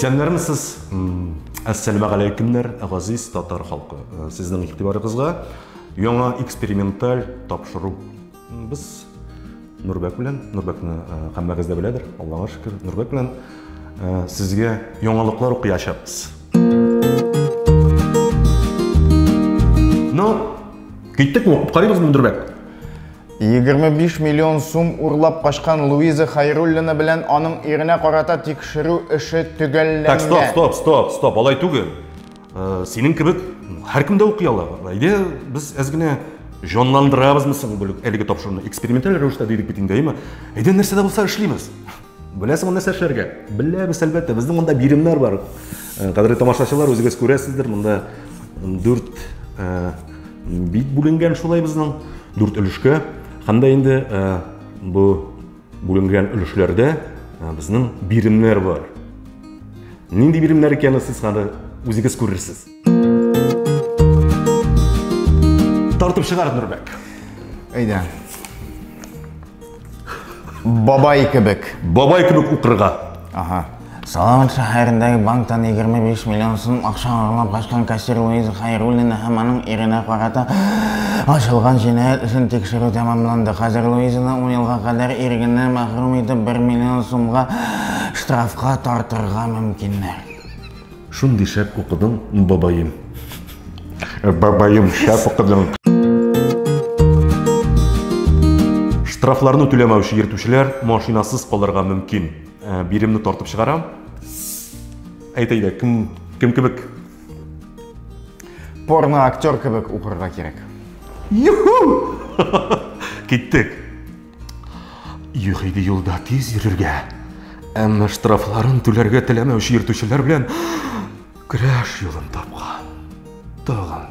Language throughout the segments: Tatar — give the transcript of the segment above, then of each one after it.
Исәннәрмесез? Әссәламә галәйкемнәр, газиз татар халкы. Сезнең игътибарыгызга яңа эксперименталь тапшыру. Без Нурбәк белән, Нурбәкне һәммәгез дә беләдер, Аллага шөкер, Нурбәк белән сезгә яңалыклар укыячакбыз. Ну, киттек мы, карыйбыз мы дөрбәк. 25 миллион сум урлап качкан Луиза Хайруллина белән аның иренә карата тикшерү эше төгәлләнгән. Так, стоп, стоп, стоп, стоп, алай түгел. Э, синең кебек һәркем дә укый ала. Әйдә, без әз генә җанландырабызмы соң әлеге тапшыруны? Эксперименталь рәвештә дидек бит инде, әйме? Әйдә, нәрсә дә булса эшлибез. Беләсеңме нәрсә эшләргә? Беләбез, әлбәттә. Безнең монда биремнәр бар. Э, кадерле тамашачылар, үзегез күрәсездер, монда дүрт э, бит бүленгән шулай безнең, дүрт өлешкә. Һәм дә инде э, бу бүленгән өлешләрдә безнең биремнәр бар. Нинди биремнәр икәнен сез хәзер үзегез күрерсез. Тартып чыгар Нурбәк. Әйдә. Бабай кебек. Бабай кебек укырга. Ага. Салават шәһәрендәге банктан 25 миллион сум акча урлап качкан кассир Луиза Хайруллина һәм аның иренә карата ачылган җинаять өчен тикшерү тәмамланды. Хәзер Луизаны 10 елга кадәр ирегеннән мәхрүм итеп 1 миллион сумга штрафка тартырга мөмкиннәр. Шундый шәп укыдың, бабаем. Бабаем, шәп укыдың. Штрафларны түләмәүче йөртүчеләр машинасыз калырга мөмкин. Ә, биремне тартып чыгарам. Әйт әйдә, кем кем кебек? Порно актер кебек укырга кирәк. Юху! Киттек. Юк иде юлда тиз йөрергә. Әмма штрафларын түләргә теләмәүче йөртүчеләр белән көрәш юлын тапкан. Тагын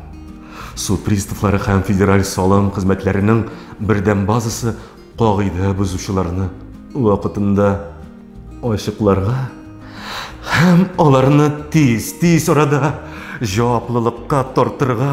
суд приставлары һәм федераль салым хезмәтләренең бердәм базасы кагыйдә бозучыларны вакытында ачыкларга һәм аларны тиз-тиз арада җаваплылыкка тартырга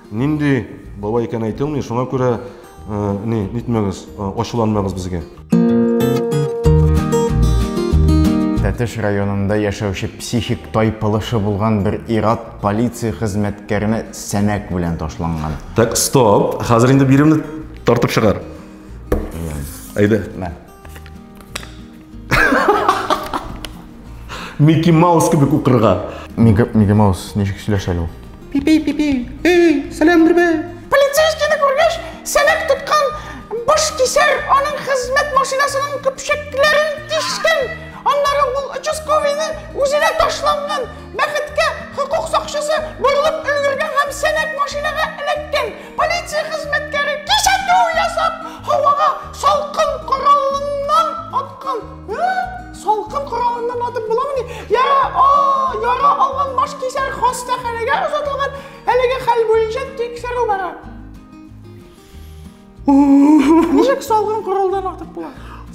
Нинди бабай икән әйтелми, шуңа күрә ни нитмәгез, ачуланмагыз безгә. Тәтеш районында яшәүче психик тайпылышы булган бер ират полиция хезмәткәренә сәнәк белән ташланган. Так, стоп. Хәзер инде биремне тартып чыгар. Әйдә. Мә. Микки Маус кебек укырга. Микки Маус ничек сөйләшә әле ул? Пипи, пипи, эй, сәлам бирбә. Полицейскийны күргәч, сәләк тоткан баш кисәр аның хезмәт машинасының көпшәкләрен тишкән. Аннары ул участковыйны үзенә ташланган. Бәхеткә, хокук сакчысы борылып өлгергән һәм сәнәк машинага эләккән. Полиция хезмәткәре кисәтү ясап, һавага салкын коралыннан аткан. Ә? Салкын коралыннан атып буламыни? Я, а, яра алган баш кисәр хастаханәгә озатылган. Әлеге хәл буенча тикшерү бара. Ничек салгын коралдан атып була?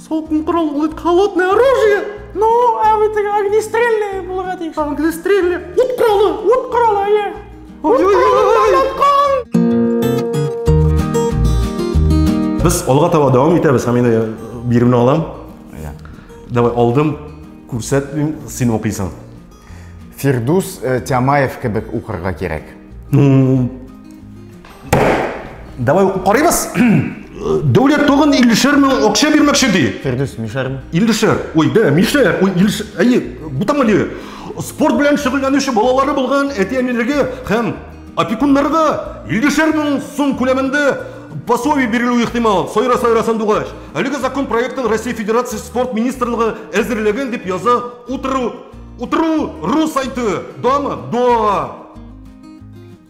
Салкын корал ул бит холодное оружие. Ну, ә бит огнестрельный булырга тиеш. Англистрельный ут коралы. Ут коралы, әйе. Без алга таба дәвам итәбез һәм инде биремне алам. Давай алдым, күрсәтмим, син укыйсың. Фирдус э, Тямаев кебек укырга кирәк. Давай укып карыйбыз. Дәүләт тагын 50 мең акча бирмәкче ди. Фирдүс, мишәрме? 50. Ой, да, мишәр. Ой, 50. Әйе, бу там әле. Спорт белән шөгыльләнүче балалары булган әти-әниләргә һәм опекуннарга 50 мең сум күләмендә пособие бирелү ихтимал, сайра сайра сандугач. Әлеге закон проектын Россия Федерация спорт министрлыгы әзерләгән дип яза утыру. Утыру ру сайты. Дама, да.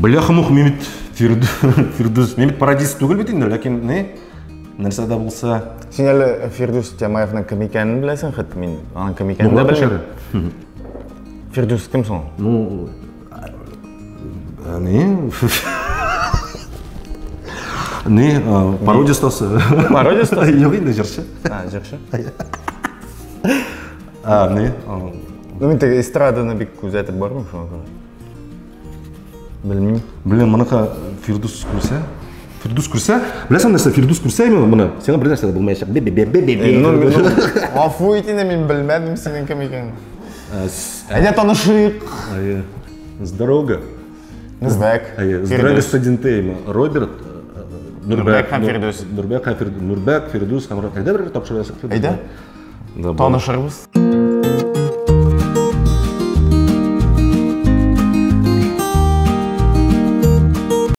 Бляхамух мимит Фирдус. Мимит парадис түгел бит инде, ләкин не? Нәрсә дә булса. Син әле Фирдус Тямаевның кем икәнен беләсең хит мин. Аның кем икәнен дә белмим. Фирдус кем соң? Ну, не. Не, пародия стасы. Пародия стасы? Юк инде җырчы. А, җырчы. А, не? А, Ну, мен тек эстраданы бик күзәтеп бармыйм шуңа күрә. Белмим. Блин, моныка Фирдус күрсә. Фирдус күрсә, беләсең нәрсә, Фирдус күрсә именно моны, сиңа бер нәрсә дә булмаячак. Бе бе бе бе бе. Э, ну, ну, Гафу ит инде, мин белмәдем синең кем икәнен. Э, Әйдә танышыйк. Э, здорово. Здак. Здраво студентейма. Роберт Нурбек һәм Фирдус. Нурбек һәм Фирдус. Нурбек, Фирдус һәм Роберт. Әйдә бер тапшырасың. Әйдә. танышырбыз.